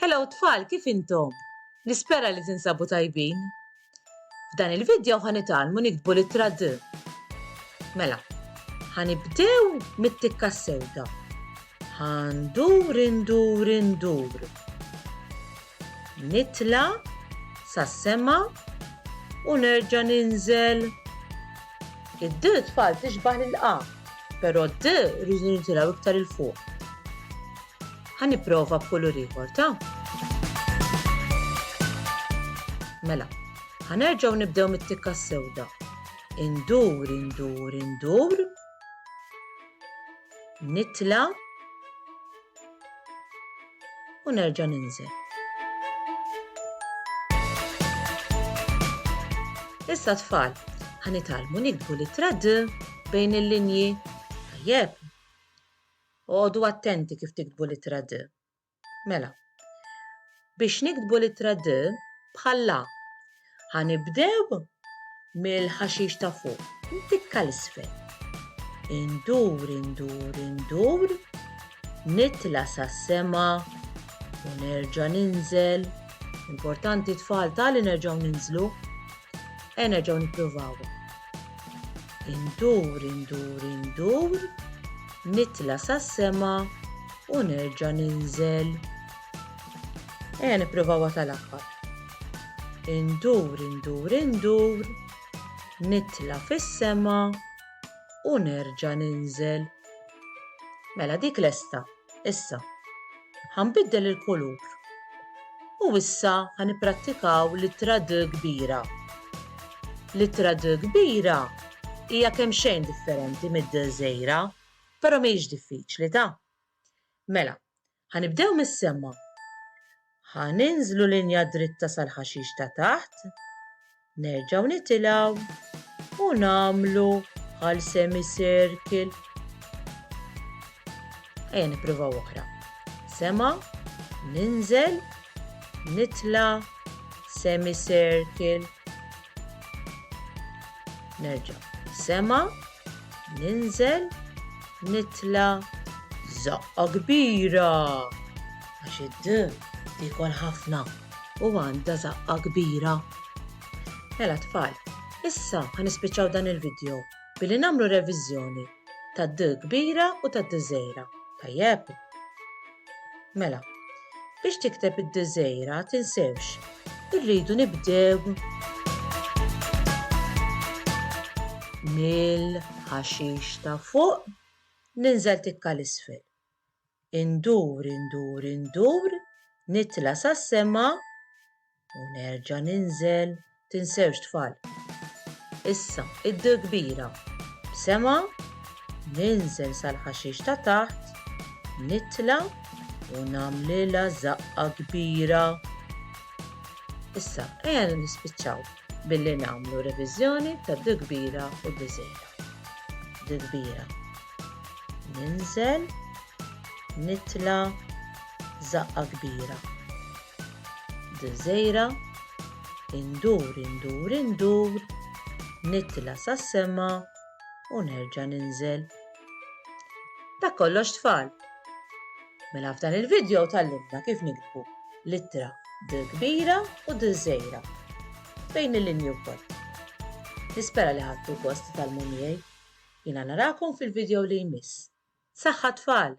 Hello tfal, kif intom? Nispera li tinsabu tajbin. F'dan il-video ħanitalmu niktbu l-ittra D. Mela, ħanibdew mit-tikka sewda. Ħandur, indur, indur. Nitla sa sema u nerġa ninżel. Id-D tfal tixbaħ l-A, pero D rridu nitilaw iktar il-fuq. Ħa nipprova b'kulur ieħor ta'. Mela, ħa nerġgħu nibdew mit-tikka sewda. Indur, indur, indur. Nitla' u nerġa' ninżel. Issa tfal, ħanitalmu nikbu li trad bejn il-linji. Tajjeb, Oqogħdu attenti kif tiktbu l-ittra D. Mela, biex niktbu l-ittra D bħal la, ħa nibdew mill-ħaxix ta' fuq, ntikka 'l isfel. Indur, indur, indur, nitla' sas-sema u nerġa' ninżel. Importanti tfal tali nerġgħu ninżlu. Ejja nerġgħu nippruvaw. Indur, indur, indur, nitla sas-sema u nerġa' ninżel. Ejja nippruvaw tal-aħħar. Indur, indur, indur, nitla fis-sema u nerġa' ninżel. Mela dik lesta. Issa, ħanbiddel il-kulur. U issa ħaniprattikaw l-ittra D kbira. L-ittra D kbira hija kemm xejn differenti mid-D żgħira, però mhijiex diffiċli ta. Mela, ħanibdew mis-semma. Ħa ninżlu linja dritta sal-ħaxix ta' taħt, nerġgħu nitilgħu u nagħmlu bħal semicircle. Ejja nippruvaw oħra. Sema, ninżel, nitla, semicircle. Nerġa' sema, ninżel, nitla, zaqqa kbira. Għax id tiekol ħafna u għandha żaqqha kbira. Mela tfal, issa ħa nispiċċaw dan il-vidjo billi nagħmlu reviżjoni tad d kbira u tad d żgħira. Tajjeb? Mela, biex tikteb id d żgħira tinsewx, irridu nibdew mill-ħaxix ta' fuq ninżel tikka l-isfel. Indur, indur, indur, nitla' sas-sema u nerġa' ninżel. Tinsewx tfal. Issa id kbira b'sema, ninżel sal-ħaxix ta' taħt, nitla' u nagħmlilha żaqqa kbira. Issa ejja nispiċċaw billi nagħmlu reviżjoni tad kbira u d żgħira. D kbira. Ninżel, nitla, zaqqa kbira. Dżejra, indur, indur, indur, nitla sas-sema u nerġa' ninżel. Dak kollox tfal. Mela f'dan il-video tal-libna kif nikbu l-ittra d-kbira u d-żejra bejn il-linju wkoll. Nispera li ħadtu kost tal-munijaj. Jiena narakom fil-video li jmiss. Saħħa tfal!